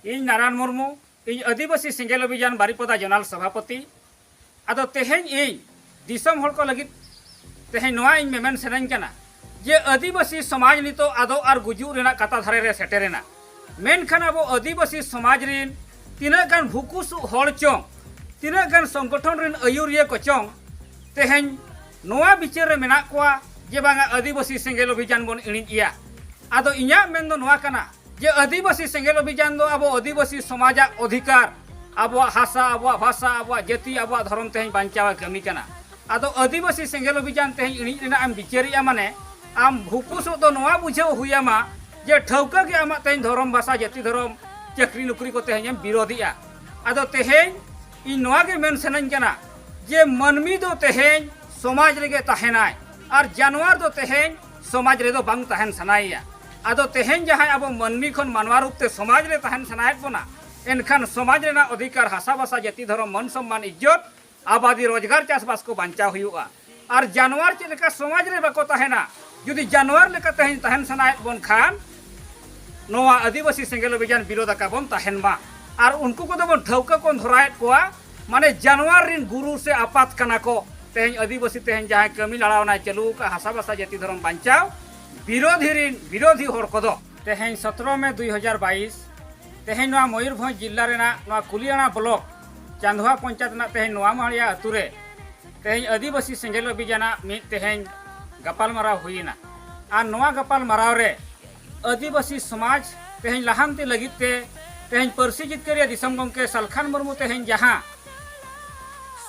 ᱤᱧ ᱱᱟᱨᱟᱭᱚᱱ ᱢᱩᱨᱢᱩ ᱤᱧ ᱟᱹᱫᱤᱵᱟᱹᱥᱤ ᱥᱮᱸᱜᱮᱞ ᱚᱵᱷᱤᱡᱟᱱ ᱵᱟᱨᱤᱯᱚᱫᱟ ᱡᱚᱱᱟᱞ ᱥᱚᱵᱷᱟᱯᱚᱛᱤ ᱟᱫᱚ ᱛᱮᱦᱮᱧ ᱤᱧ ᱫᱤᱥᱚᱢ ᱦᱚᱲ ᱠᱚ ᱞᱟᱹᱜᱤᱫ ᱛᱮᱦᱮᱧ ᱱᱚᱣᱟ ᱤᱧ ᱢᱮᱢᱮᱱ ᱥᱟᱱᱟᱧ ᱠᱟᱱᱟ ᱡᱮ ᱟᱹᱫᱤᱵᱟᱹᱥᱤ ᱥᱚᱢᱟᱡᱽ ᱱᱤᱛᱚᱜ ᱟᱫᱚ ᱟᱨ ᱜᱩᱡᱩᱜ ᱨᱮᱱᱟᱜ ᱠᱟᱛᱟ ᱫᱷᱟᱨᱮ ᱨᱮ ᱥᱮᱴᱮᱨᱮᱱᱟ ᱢᱮᱱᱠᱷᱟᱱ ᱟᱵᱚ ᱟᱹᱫᱤᱵᱟᱹᱥᱤ ᱥᱚᱢᱟᱡᱽ ᱨᱤᱱ ᱛᱤᱱᱟᱹᱜ ᱜᱟᱱ ᱵᱷᱩᱠᱩᱥᱩᱜ ᱦᱚᱲ ᱪᱚᱝ ᱛᱤᱱᱟᱹᱜ ᱜᱟᱱ ᱥᱚᱝᱜᱚᱴᱷᱚᱱ ᱨᱤᱱ ᱟᱹᱭᱩᱨᱤᱭᱟᱹ ᱠᱚ ᱪᱚᱝ ᱛᱮᱦᱮᱧ ᱱᱚᱣᱟ ᱵᱤᱪᱟᱹᱨ ᱨᱮ ᱢᱮᱱᱟᱜ ᱠᱚᱣᱟ ᱡᱮ ᱵᱟᱝᱟ ᱟᱹᱫᱤᱵᱟᱹᱥᱤ ᱥᱮᱸᱜᱮᱞ ᱚᱵᱷᱤᱡᱟᱱ ᱵᱚᱱ ᱤᱬᱤᱡ ᱮᱭᱟ ᱟᱫᱚ ᱤᱧᱟᱹᱜ ᱢᱮᱱ ᱫᱚ ᱱᱚᱣᱟ ᱠᱟᱱᱟ ᱡᱮ ᱟᱹᱫᱤᱵᱟᱹᱥᱤ ᱥᱮᱸᱜᱮᱞ ᱚᱵᱷᱤᱡᱟᱱ ᱫᱚ ᱟᱵᱚ ᱟᱹᱫᱤᱵᱟᱹᱥᱤ ᱥᱚᱢᱟᱡᱟᱜ ᱚᱫᱷᱤᱠᱟᱨ ᱟᱵᱚᱣᱟᱜ ᱦᱟᱥᱟ ᱟᱵᱚᱣᱟᱜ ᱵᱷᱟᱥᱟ ᱟᱵᱚᱣᱟᱜ ᱡᱟᱹᱛᱤ ᱟᱵᱚᱣᱟᱜ ᱫᱷᱚᱨᱚᱢ ᱛᱮᱦᱮᱧ ᱵᱟᱧᱪᱟᱣᱮ ᱠᱟᱹᱢᱤ ᱠᱟᱱᱟ ᱟᱫᱚ ᱟᱹᱫᱤᱵᱟᱹᱥᱤ ᱥᱮᱸᱜᱮᱞ ᱚᱵᱷᱤᱡᱟᱱ ᱛᱮᱦᱮᱧ ᱤᱬᱤᱡ ᱨᱮᱱᱟᱜ ᱮᱢ ᱵᱤᱪᱟᱹᱨᱮᱜᱼᱟ ᱢᱟᱱᱮ ᱟᱢ ᱵᱷᱩᱠᱩᱥᱚᱜ ᱫᱚ ᱱᱚᱣᱟ ᱵᱩᱡᱷᱟᱹᱣ ᱦᱩᱭᱟᱢᱟ ᱡᱮ ᱴᱷᱟᱹᱣᱠᱟᱹ ᱜᱮ ᱟᱢᱟᱜ ᱛᱮᱦᱮᱧ ᱫᱷᱚᱨᱚᱢ ᱵᱷᱟᱥᱟ ᱡᱟᱹᱛᱤ ᱫᱷᱚᱨᱚᱢ ᱪᱟᱹᱠᱨᱤ ᱱᱚᱠᱨᱤ ᱠᱚ ᱛᱮᱦᱮᱧ ᱮᱢ ᱵᱤᱨᱳᱫᱷᱮᱜᱼᱟ ᱟᱫᱚ ᱛᱮᱦᱮᱧ ᱤᱧ ᱱᱚᱣᱟ ᱜᱮ ᱢᱮᱱ ᱥᱟᱱᱟᱧ ᱠᱟᱱᱟ ᱡᱮ ᱢᱟᱹᱱᱢᱤ ᱫᱚ ᱛᱮᱦᱮᱧ ᱥᱚᱢᱟᱡᱽ ᱨᱮᱜᱮ ᱛᱟᱦᱮᱱᱟᱭ ᱟᱨ ᱡᱟᱱᱣᱟᱨ ᱫᱚ ᱛᱮᱦᱮᱧ ᱥᱚᱢᱟᱡᱽ ᱨᱮᱫᱚ ᱵᱟᱝ ᱛᱟᱦᱮᱱ ᱥᱟᱱᱟᱭᱮᱭᱟ ᱟᱫᱚ ᱛᱮᱦᱮᱧ ᱡᱟᱦᱟᱸᱭ ᱟᱵᱚ ᱢᱟᱹᱱᱢᱤ ᱠᱷᱚᱱ ᱢᱟᱱᱣᱟ ᱨᱩᱯ ᱛᱮ ᱥᱚᱢᱟᱡᱽ ᱨᱮ ᱛᱟᱦᱮᱱ ᱥᱟᱱᱟᱭᱮᱫ ᱵᱚᱱᱟ ᱮᱱᱠᱷᱟᱱ ᱥᱚᱢᱟᱡᱽ ᱨᱮᱱᱟᱜ ᱚᱫᱷᱤᱠᱟᱨ ᱦᱟᱥᱟ ᱵᱷᱟᱥᱟ ᱡᱟᱹᱛᱤ ᱫᱷᱚᱨᱚᱢ ᱢᱟᱹᱱ ᱥᱚᱢᱢᱟᱱ ᱤᱡᱽᱡᱚᱛ ᱟᱵᱟᱫᱤ ᱨᱳᱡᱽᱜᱟᱨ ᱪᱟᱥᱵᱟᱥ ᱠᱚ ᱵᱟᱧᱪᱟᱣ ᱦᱩᱭᱩᱜᱼᱟ ᱟᱨ ᱡᱟᱱᱣᱟᱨ ᱪᱮᱫ ᱞᱮᱠᱟ ᱥᱚᱢᱟᱡᱽ ᱨᱮ ᱵᱟᱠᱚ ᱛᱟᱦᱮᱱᱟ ᱡᱩᱫᱤ ᱡᱟᱱᱣᱟᱨ ᱞᱮᱠᱟ ᱛᱮᱦᱮᱧ ᱛᱟᱦᱮᱱ ᱥᱟᱱᱟᱭᱮᱫ ᱵᱚᱱ ᱠᱷᱟᱱ ᱱᱚᱣᱟ ᱟᱹᱫᱤᱵᱟᱹᱥᱤ ᱥᱮᱸᱜᱮᱞ ᱚᱵᱷᱤᱡᱟᱱ ᱵᱤᱨᱳᱫᱷ ᱟᱠᱟ ᱵᱚᱱ ᱛᱟᱦᱮᱱ ᱢᱟ ᱟᱨ ᱩᱱᱠᱩ ᱠᱚᱫᱚ ᱵᱚᱱ ᱴᱷᱟᱹᱣᱠᱟᱹ ᱠᱚ ᱫᱷᱚᱨᱟᱭᱮᱫ ᱠᱚᱣᱟ ᱢᱟᱱᱮ ᱡᱟᱱᱣᱟᱨ ᱨᱤᱱ ᱜᱩᱨᱩ ᱥᱮ ᱟᱯᱟᱛ ᱠᱟᱱᱟ ᱠᱚ ᱛᱮᱦᱮᱧ ᱟᱹᱫᱤᱵᱟᱹᱥᱤ ᱛᱮᱦᱮᱧ ᱡᱟᱦᱟᱸᱭ ᱠᱟᱹᱢᱤ ᱞᱟᱲᱟᱣᱱᱟᱭ ᱪᱟᱹᱞᱩ ᱟᱠᱟᱫ ᱦᱟᱥᱟ ᱵᱟᱥᱟ ᱡᱟᱹᱛᱤ ᱫᱷᱚᱨᱚᱢ ᱵᱟᱧᱪᱟᱣ ᱵᱤᱨᱳᱫᱷᱤ ᱨᱤᱱ ᱵᱤᱨᱳᱫᱷᱤ ᱦᱚᱲ ᱠᱚᱫᱚ ᱛᱮᱦᱮᱧ ᱥᱚᱛᱨᱚ ᱢᱮ ᱫᱩᱭ ᱦᱟᱡᱟᱨ ᱵᱟᱭᱤᱥ ᱛᱮᱦᱮᱧ ᱱᱚᱣᱟ ᱢᱚᱭᱩᱨᱵᱷᱚᱸᱡᱽ ᱡᱤᱞᱟ ᱨᱮᱱᱟᱜ ᱱᱚᱣᱟ ᱠᱩᱞᱤᱭᱟᱱᱟ ᱵᱞᱚᱠ ᱪᱟᱸᱫᱷᱣᱟ ᱯᱚᱧᱪᱟᱭᱮᱛ ᱨᱮᱱᱟᱜ ᱛᱮᱦᱮᱧ ᱱᱚᱣᱟ ᱢᱟᱦᱟᱲᱤᱭᱟ ᱟᱹᱛᱩ ᱨᱮ ᱛᱮᱦᱮᱧ ᱟᱹᱫᱤᱵᱟᱹᱥᱤ ᱥᱮᱸᱜᱮᱞ ᱚᱵᱷᱤᱡᱟᱱᱟᱜ ᱢᱤᱫ ᱛᱮᱦᱮᱧ ᱜᱟᱯᱟᱞᱢᱟᱨᱟᱣ ᱦᱩᱭᱮᱱᱟ ᱟᱨ ᱱᱚᱣᱟ ᱜᱟᱯᱟᱞᱢᱟᱨᱟᱣ ᱨᱮ ᱟᱹᱫᱤᱵᱟᱹᱥᱤ ᱥᱚᱢᱟᱡᱽ ᱛᱮᱦᱮᱧ ᱞᱟᱦᱟᱱᱛᱤ ᱞᱟᱹᱜᱤᱫ ᱛᱮ ᱛᱮᱦᱮᱧ ᱯᱟᱹᱨᱥᱤ ᱡᱤᱛᱠᱟᱹᱨᱤᱭᱟᱹ ᱫᱤᱥᱚᱢ ᱜᱚᱢᱠᱮ ᱥᱟᱞᱠᱷᱟᱱ ᱢᱩᱨᱢᱩ ᱛᱮᱦᱮᱧ ᱡᱟᱦᱟᱸ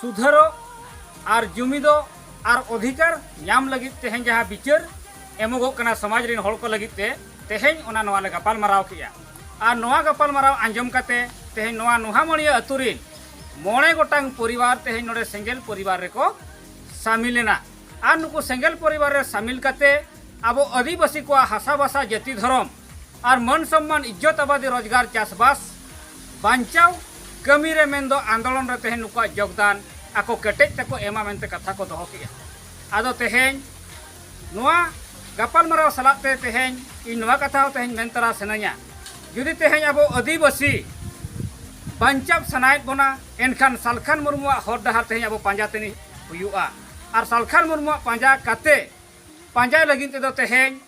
ᱥᱩᱫᱷᱟᱹᱨᱚᱜ ᱟᱨ ᱡᱩᱢᱤᱫᱚᱜ ᱟᱨ ᱚᱫᱷᱤᱠᱟᱨ ᱧᱟᱢ ᱞᱟᱹᱜᱤᱫ ᱛᱮᱦᱮᱧ ᱡᱟᱦᱟᱸ ᱵᱤᱪᱟᱹᱨ ᱮᱢᱚᱜᱚᱜ ᱠᱟᱱᱟ ᱥᱚᱢᱟᱡᱽ ᱨᱮᱱ ᱦᱚᱲ ᱠᱚ ᱞᱟᱹᱜᱤᱫ ᱛᱮ ᱛᱮᱦᱮᱧ ᱚᱱᱟ ᱱᱚᱣᱟ ᱞᱮ ᱜᱟᱯᱟᱞᱢᱟᱨᱟᱣ ᱠᱮᱜᱼᱟ ᱟᱨ ᱱᱚᱣᱟ ᱜᱟᱯᱟᱞᱢᱟᱨᱟᱣ ᱟᱸᱡᱚᱢ ᱠᱟᱛᱮ ᱛᱮᱦᱮᱧ ᱱᱚᱣᱟ ᱱᱚᱦᱟᱢᱚᱲᱤᱭᱟᱹ ᱟᱹᱛᱩ ᱨᱮᱱ ᱢᱚᱬᱮ ᱜᱚᱴᱟᱝ ᱯᱚᱨᱤᱵᱟᱨ ᱛᱮᱦᱮᱧ ᱱᱚᱰᱮ ᱥᱮᱸᱜᱮᱞ ᱯᱚᱨᱤᱵᱟᱨ ᱨᱮᱠᱚ ᱥᱟᱢᱤᱞ ᱮᱱᱟ ᱟᱨ ᱱᱩᱠᱩ ᱥᱮᱸᱜᱮᱞ ᱯᱚᱨᱤᱵᱟᱨ ᱨᱮ ᱥᱟᱢᱤᱞ ᱠᱟᱛᱮ ᱟᱵᱚ ᱟᱹᱫᱤᱵᱟᱹᱥᱤ ᱠᱚᱣᱟᱜ ᱦᱟᱥᱟ ᱵᱷᱟᱥᱟ ᱡᱟᱹᱛᱤ ᱫᱷᱚᱨᱚᱢ ᱟᱨ ᱢᱟᱹᱱ ᱥᱚᱢᱢᱟᱱ ᱤᱡᱽᱡᱚᱛ ᱟᱵᱟᱫᱤ ᱨᱳᱡᱽᱜᱟᱨ ᱪᱟᱥᱵᱟᱥ ᱵᱟᱧᱪᱟᱣ ᱠᱟᱹᱢᱤ ᱨᱮ ᱢᱮᱱᱫᱚ ᱟᱱᱫᱳᱞᱚᱱ ᱨᱮ ᱛᱮᱦᱮᱧ ᱱᱩᱠᱩᱣᱟᱜ ᱡᱳᱜᱽᱫᱟᱱ ᱟᱠᱚ ᱠᱮᱴᱮᱡ ᱛᱮᱠᱚ ᱮᱢᱟ ᱢᱮᱱᱛᱮ ᱠᱟᱛᱷᱟ ᱠᱚ ᱫᱚᱦᱚ ᱠᱮᱜᱼᱟ ᱟᱫᱚ ᱛᱮᱦᱮᱧ ᱱᱚᱣᱟ ᱜᱟᱯᱟᱞᱢᱟᱨᱟᱣ ᱥᱟᱞᱟᱜ ᱛᱮ ᱛᱮᱦᱮᱧ ᱤᱧ ᱱᱚᱣᱟ ᱠᱟᱛᱷᱟ ᱦᱚᱸ ᱛᱮᱦᱮᱧ ᱢᱮᱱ ᱛᱟᱨᱟ ᱥᱟᱱᱟᱧᱟ ᱡᱩᱫᱤ ᱛᱮᱦᱮᱧ ᱟᱵᱚ ᱟᱹᱫᱤᱵᱟᱹᱥᱤ ᱵᱟᱧᱪᱟᱣ ᱥᱟᱱᱟᱭᱮᱫ ᱵᱚᱱᱟ ᱮᱱᱠᱷᱟᱱ ᱥᱟᱞᱠᱷᱟᱱ ᱢᱩᱨᱢᱩᱣᱟᱜ ᱦᱚᱨ ᱰᱟᱦᱟᱨ ᱛᱮᱦᱮᱧ ᱟᱵᱚ ᱯᱟᱸᱡᱟ ᱛᱮᱱᱤ ᱦᱩᱭᱩᱜᱼᱟ ᱟᱨ ᱥᱟᱞᱠᱷᱟᱱ ᱢᱩᱨᱢᱩᱣᱟᱜ ᱯᱟᱸᱡᱟ ᱠᱟᱛᱮ ᱯᱟᱸᱡᱟᱭ ᱞᱟᱹᱜᱤᱫ ᱛᱮᱫᱚ ᱛᱮᱦᱮᱧ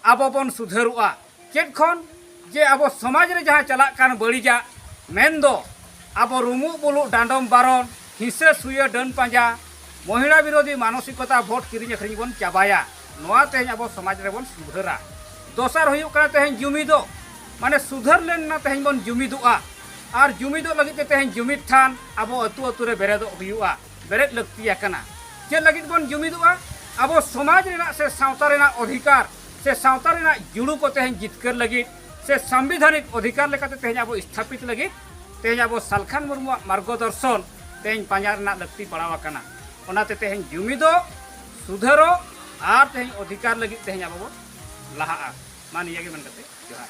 ᱟᱵᱚ ᱵᱚᱱ ᱥᱩᱫᱷᱟᱹᱨᱚᱜᱼᱟ ᱪᱮᱫ ᱠᱷᱚᱱ ᱡᱮ ᱟᱵᱚ ᱥᱚᱢᱟᱡᱽ ᱨᱮ ᱡᱟᱦᱟᱸ ᱪᱟᱞᱟᱜ ᱠᱟᱱ ᱵᱟᱹᱲᱤᱡᱟᱜ ᱢᱮᱱ ᱫᱚ ᱟᱵᱚ ᱨᱩᱢᱩᱜ ᱵᱩᱞᱩᱜ ᱰᱟᱸᱰᱚᱢ ᱵᱟᱨᱚᱱ ᱦᱤᱸᱥᱟᱹ ᱥᱩᱭᱟᱹ ᱰᱟᱹᱱ ᱯᱟᱸᱡᱟ ᱢᱚᱦᱤᱲᱟ ᱵᱤᱨᱳᱫᱷᱤ ᱢᱟᱱᱚᱥᱤᱠᱚᱛᱟ ᱵᱷᱳᱴ ᱠᱤᱨᱤᱧ ᱟᱹᱠᱷᱨᱤᱧ ᱵᱚᱱ ᱪᱟᱵᱟᱭᱟ ᱱᱚᱣᱟ ᱛᱮᱦᱮᱧ ᱟᱵᱚ ᱥᱚᱢᱟᱡᱽ ᱨᱮᱵᱚᱱ ᱥᱩᱫᱷᱟᱹᱨᱟ ᱫᱚᱥᱟᱨ ᱦᱩᱭᱩᱜ ᱠᱟᱱᱟ ᱛᱮᱦᱮᱧ ᱡᱩᱢᱤᱫᱚ ᱢᱟᱱᱮ ᱥᱩᱫᱷᱟᱹᱨ ᱞᱮᱱᱟ ᱛᱮᱦᱮᱧ ᱵᱚᱱ ᱡᱩᱢᱤᱫᱚᱜᱼᱟ ᱟᱨ ᱡᱩᱢᱤᱫᱚ ᱞᱟᱹᱜᱤᱫ ᱛᱮ ᱛᱮᱦᱮᱧ ᱡᱩᱢᱤᱫ ᱴᱷᱟᱱ ᱟᱵᱚ ᱟᱹᱛᱩ ᱟᱹᱛᱩ ᱨᱮ ᱵᱮᱨᱮᱫᱚᱜ ᱦᱩᱭᱩᱜᱼᱟ ᱵᱮᱨᱮᱫ ᱞᱟᱹᱠᱛᱤ ᱟᱠᱟᱱᱟ ᱪᱮᱫ ᱞᱟᱹᱜᱤᱫ ᱵᱚᱱ ᱡᱩᱢᱤᱫᱚᱜᱼᱟ ᱟᱵᱚ ᱥᱚᱢᱟᱡᱽ ᱨᱮᱱᱟᱜ ᱥᱮ ᱥᱟᱶᱛᱟ ᱨᱮᱱᱟᱜ ᱚᱫᱷᱤᱠᱟᱨ ᱥᱮ ᱥᱟᱶᱛᱟ ᱨᱮᱱᱟᱜ ᱡᱩᱲᱩ ᱠᱚ ᱛᱮᱦᱮᱧ ᱡᱤᱛᱠᱟᱹᱨ ᱞᱟᱹᱜᱤᱫ ᱥᱮ ᱥᱟᱢᱵᱤᱫᱷᱟᱱᱤᱠ ᱚᱫᱷᱤᱠᱟᱨ ᱞᱮᱠᱟᱛᱮ ᱛᱮᱦᱮᱧ ᱟᱵᱚ ᱥᱛᱷᱟᱯᱤᱛ ᱞᱟᱹᱜᱤᱫ ᱛᱮᱦᱮᱧ ᱟᱵᱚ ᱥᱟᱞᱠᱷᱟᱱ ᱢᱩᱨᱢᱩᱣᱟᱜ ᱢᱟᱨᱜᱚ ᱫᱚᱨᱥᱚᱱ ᱛᱮᱦᱮᱧ ᱯᱟᱸᱡᱟ ᱨᱮᱱᱟᱜ ᱞᱟᱹᱠᱛᱤ ᱯᱟᱲᱟᱣ ᱟᱠᱟᱱᱟ ᱚᱱᱟᱛᱮ ᱛᱮᱦᱮᱧ ᱡᱩᱢᱤᱫᱚ ᱥᱩᱫᱷᱟᱹᱨᱚ ᱟᱨ ᱛᱮᱦᱮᱧ ᱚᱫᱷᱤᱠᱟᱨ ᱞᱟᱹᱜᱤᱫ ᱛᱮᱦᱮᱧ ᱟᱵᱚ ᱵᱚ ᱞᱟᱦᱟᱜᱼᱟ ᱢᱟ ᱱᱤᱭᱟᱹ ᱜᱮ ᱢᱮᱱ ᱠᱟᱛᱮ ᱡᱚᱦᱟᱨ